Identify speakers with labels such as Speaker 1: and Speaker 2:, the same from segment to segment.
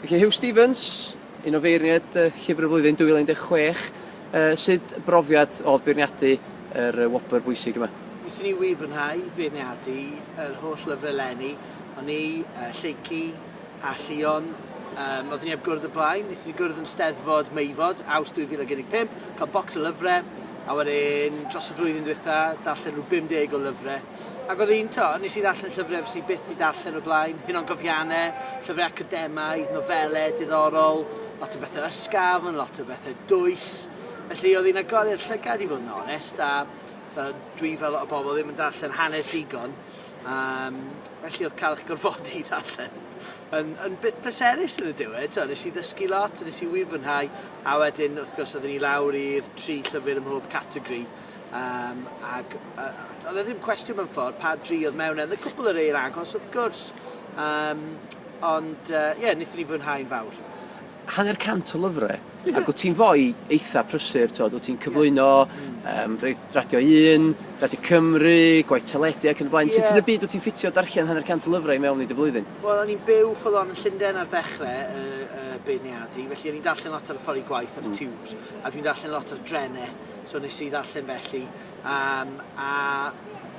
Speaker 1: Felly Huw Stephens, un o feirniaid Llyfr y Flwyddyn 2016, sut brofiad oedd beirniadu yr wobr bwysig yma? Wnaethon ni wir fwynhau
Speaker 2: beirniadu yr holl lyfrau eleni, o'n i, Lleucu a Llion, yym oeddwn i heb gwrdd o blaen, wnaethon ni gwrdd yn Steddfod Meifod, Awst 2015, cael bocs o lyfrau, a wedyn dros y flwyddyn ddiwetha' darllen rhyw 50 o lyfrau. Ac oedd hi'n, tibod, wnes i ddarllen llyfrau fyswn i byth 'di darllen o'r blaen, hunangofiannau, llyfrau academaidd, nofelau diddorol, lot o bethau ysgafn, lot o bethau dwys. Felly, oedd hi'n agor i'r llygad i fod yn onest, a, tibod, dwi fel lot o bobl ddim yn darllen hanner digon, yym, felly oedd cael eich gorfodi i ddarllen yn yn beth pleserus yn y diwedd, tibod, wnes i ddysgu lot, wnes i wir fwynhau, a wedyn, wrth gwrs, oedden ni lawr i'r tri llyfr ym mhob categori. Yym ag yy do'dd e ddim cwestiwn mewn ffordd pa dri odd mewn e o'dd y cwpwl o rei yn agos wrth gwrs yym ond yy ie nethon ni fwynhau'n fawr. Hanner cant
Speaker 1: o lyfre ag wt ti'n foi eitha prysur t'od wt ti'n cyflwyno yym rei- Radio Un, Radio Cymru, gwaith teledu ac yn y blaen. Sut yn y byd wt ti'n ffitio darllen hanner cant o lyfre i mewn i dy flwyddyn? Wel o'n i'n byw full
Speaker 2: on yn Llunden ar ddechre y y beirniadu felly o'n i'n darllen lot ar y ffor i gwaith ar y tiwbs a dwi'n darllen lot ar drene So nes i ddarllen felly yym a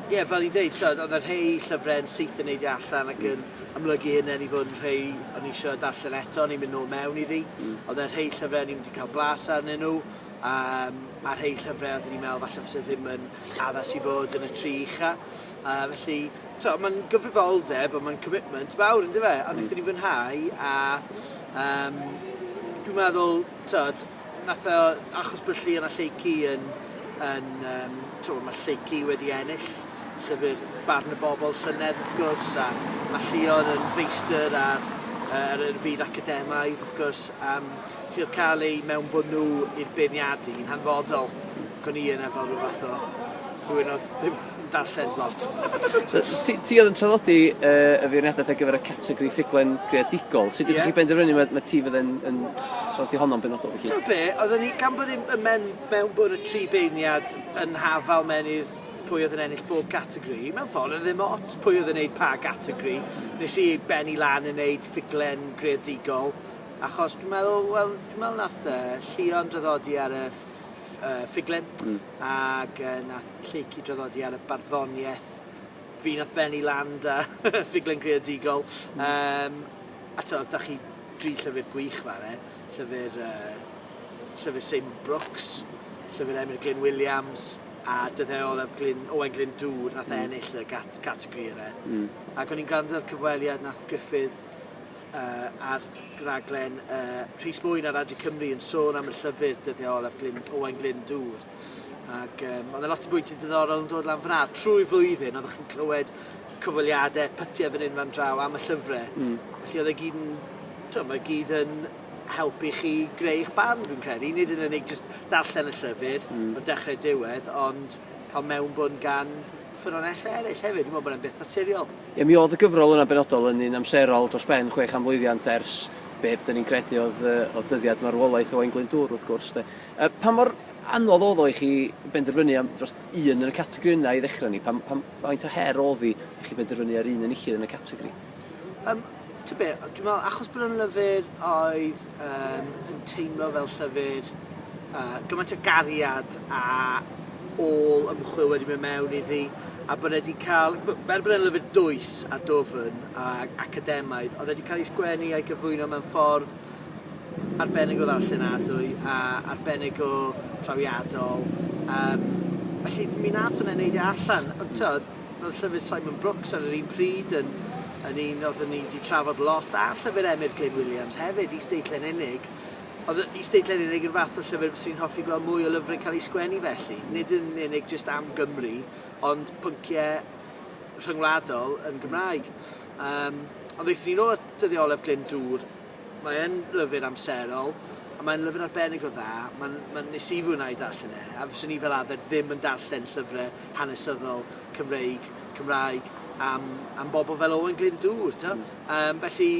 Speaker 2: ie fel i'n deud t'od odd y rhei llyfre yn syth yn neidio allan ac yn amlygu hunen i fod yn rhei o'n i isio darllen eto o'n i'n myn' nôl mewn iddi. Hmm. Odd e rhei llyfre o'n i'm 'di ca'l blas arnyn nw yym a rhei llyfre oeddwn i'n me'wl falle fyse ddim yn addas i fod yn y tri ucha a felly t'o' ma'n gyfrifoldeb a ma'n commitment fawr on'd yfe? A nethon ni fwynhau a yym dwi'n meddwl t'od Nath e achos bod Llion a Lleucu yn yn yym t'mo' ma' Lleucu wedi ennill llyfr Barn y Bobl llynedd wrth gwrs a ma' Llion yn feistr ar yy ar yn y byd academaidd wrth gwrs yym felly o'dd ca'l eu mewnbwn nhw i'r beirniadu yn hanfodol ac o'n i yna fel ryw fath o rhywun o'dd ddim darllen lot. So, ti,
Speaker 1: ti oedd yn traddodi uh, y feirniadaeth ar gyfer y categori ffuglen greadigol. Sut ydych chi benderfynu mae, mae ti fydd yn, yn traddodi honno'n benodol felly? Ti'n be, oedden ni gan
Speaker 2: bod yn men, mewn bod y tri beirniad yn hafal mewn i'r pwy oedd yn ennill bob categori. Mewn ffordd, oedd ddim ot pwy oedd yn neud pa categori. Nes i benni lan yn neud ffuglen greadigol. Achos dwi'n meddwl, wel, dwi'n meddwl nath uh, Llion draddodi ar y uh, ffuglen. Mm. Ac yy nath Lleucu draddodi ar y barddoniaeth fi nath fennu lan 'da ffuglen greadigol yym a t'od dach chi dri llyfyr gwych fan 'na, llyfyr yy llyfyr Seimon Brooks, llyfyr Emyr Glyn Williams a dyddie olaf Glyn Owain Glyndŵr nath ennill y gat- categori yna. Hmm. Ac o'n i'n grando ar cyfweliad nath Gruffydd ar raglen Rhys Mwyn ar Radio Cymru yn sôn am y llyfr dyddiau olaf Glyn, Owain Glyn Dŵr. Ac um, oedd e lot o bwyntiau diddorol yn dod lan fyna. Trwy flwyddyn, oeddech chi'n clywed cyfweliadau, pytiau fan hyn fan draw am y llyfrau. Mm. Felly oedd e gyd yn, twyd, mae gyd yn helpu chi greu eich barn, dwi'n credu. Nid yn unig just darllen y llyfr, mm. o dechrau diwedd, ond cael mewnbwn gan ffynonellau eraill hefyd, dwi'n meddwl bod e'n beth naturiol. Ie, mi oedd y gyfrol
Speaker 1: yna'n benodol yn un amserol dros ben chwe chan mlwyddiant ers be dyn ni'n credu oedd, oedd dyddiad marwolaeth Owain Glyndŵr, wrth gwrs. De. Pa mor anodd oedd o i chi benderfynu am dros un yn y categori yna i ddechrau ni? Pa, pa, faint o her oedd i chi benderfynu ar un yn enillydd yn y categori? Um,
Speaker 2: T'o' be' yy dwi me'wl achos bod e'n lyfyr oedd yym yn teimlo fel llyfyr yy gymaint o gariad a ôl ymchwil wedi myn' mewn iddi a bod e 'di ca'l b- er bod e'n lyfyr dwys a dwfn ag academaidd odd e 'di ca'l 'i sgwennu a'i gyflwyno mewn ffordd arbennig o ddarllenadwy a arbennig o drawiadol yym felly mi nath hwnna neud e allan ond t'od Roedd llyfr Simon Brooks ar yr un pryd yn yn un oeddwn ni 'di trafod lot, a llyfr Emyr Glyn Williams hefyd, Is-deitlen Unig. Oedd Is-deitlen Unig yn fath o llyfr fyswn i'n hoffi gweld mwy o lyfryn cael eu sgwennu felly, nid yn unig jyst am Gymru, ond pyncie rhyngwladol yn Gymraeg. Yym, ond aethwn ni nôl at Dyddiolef Glyn Dŵr, Mae yn lyfr amserol, a mae'n lyfr arbennig o dda. Mae'n... mae'n... nes i fwynhau darllen e, a fyswn i fel arfer ddim yn darllen llyfrau hanesyddol Cymreig, Cymraeg, am... am bobl fel Owain Glyndŵr, t'o'? Hmm. Yym, felly,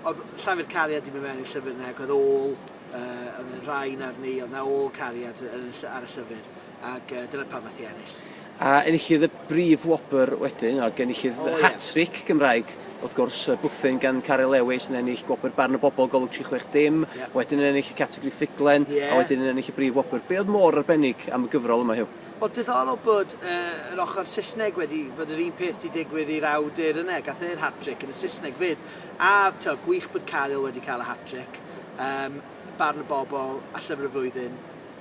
Speaker 2: oedd llafur cariad 'di mynd mewn i'r llyfr 'na, ac oedd ôl, yy, oedd y rhain arni, oedd 'na ôl cariad yn y ll- ar y llyfr. ac uh, dyna pam nath i ennill. A
Speaker 1: enillydd y brif wobr wedyn,
Speaker 2: a
Speaker 1: genillydd oh, hat-trick
Speaker 2: yeah.
Speaker 1: Gymraeg wrth gwrs, y bwthyn gan Caryl Lewis yn ennill gwobr barn y bobl golwg 36 dim, yeah. wedyn yn ennill y categori ffuglen, yeah. a wedyn yn ennill y brif wobr. Be oedd mor arbennig am y gyfrol yma, Hugh? Wel, diddorol bod
Speaker 2: uh, yr ochr Saesneg wedi bod yr un peth wedi digwydd i'r awdur yna, gath e'r hat-trick yn y Saesneg fyd. A to, gwych bod Caryl wedi cael y hat-trick, um, barn y bobl a llyfr y flwyddyn,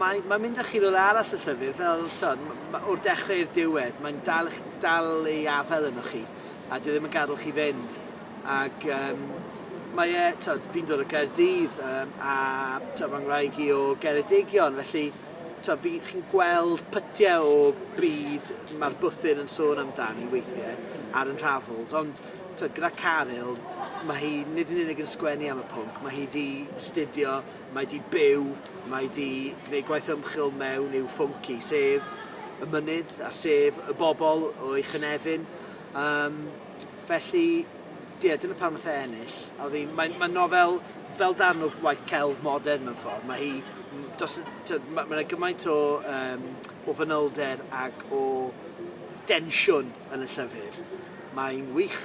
Speaker 2: mae'n mae'n mynd â chi rywle arall y llyfr fel t'od m- ma' o'r dechre i'r diwedd mae'n dal ych dal ei afel ynoch chi a dyw e ddim yn gad'el chi fynd ag yym mae e t'od fi'n dod o Gaerdydd yym a t'od fy ngwraig i o Geredigion felly t'od fi chi'n gweld pytie o byd ma'r bwthyn yn sôn amdani weithie ar 'yn nhravels ond t'od gyda Caryl ma' hi nid yn unig yn sgwennu am y pwnc ma' hi 'di astudio mae 'di byw, mae 'di gwneud gwaith ymchwil mewn i'w phwnc hi, sef y mynydd a sef y bobl o'i chynefin. Um, felly, ie, dyna pam nath e ennill. A oedd hi'n... Mae'n mae nofel fel darn o waith celf modern mewn ffordd. Mae hi... Dos, mae yna gymaint o, um, o fanylder ac o densiwn yn y llyfr. Mae'n wych.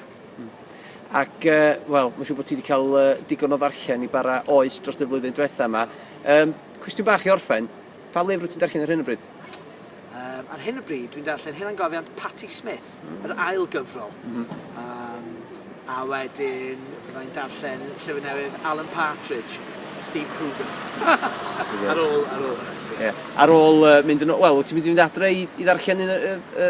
Speaker 1: Ac yy, wel, mae'n siŵr bod ti wedi cael uh, digon o ddarllen i bara oes dros y flwyddyn diwetha yma. Um, cwestiwn bach i orffen, pa lyfr wyt ti'n darllen ar hyn o bryd? Um, ar
Speaker 2: hyn o bryd, dwi'n darllen hyn gofiant Patti Smith, mm. yr ail gyfrol. Mm -hmm. um, a wedyn, fyddai'n darllen llyfr newydd Alan Partridge, Steve Coogan. ar ôl, ar ôl. Yeah. Ar ôl
Speaker 1: uh, mynd yn... Wel, ti'n mynd i fynd adre i, i ddarllen un y, y,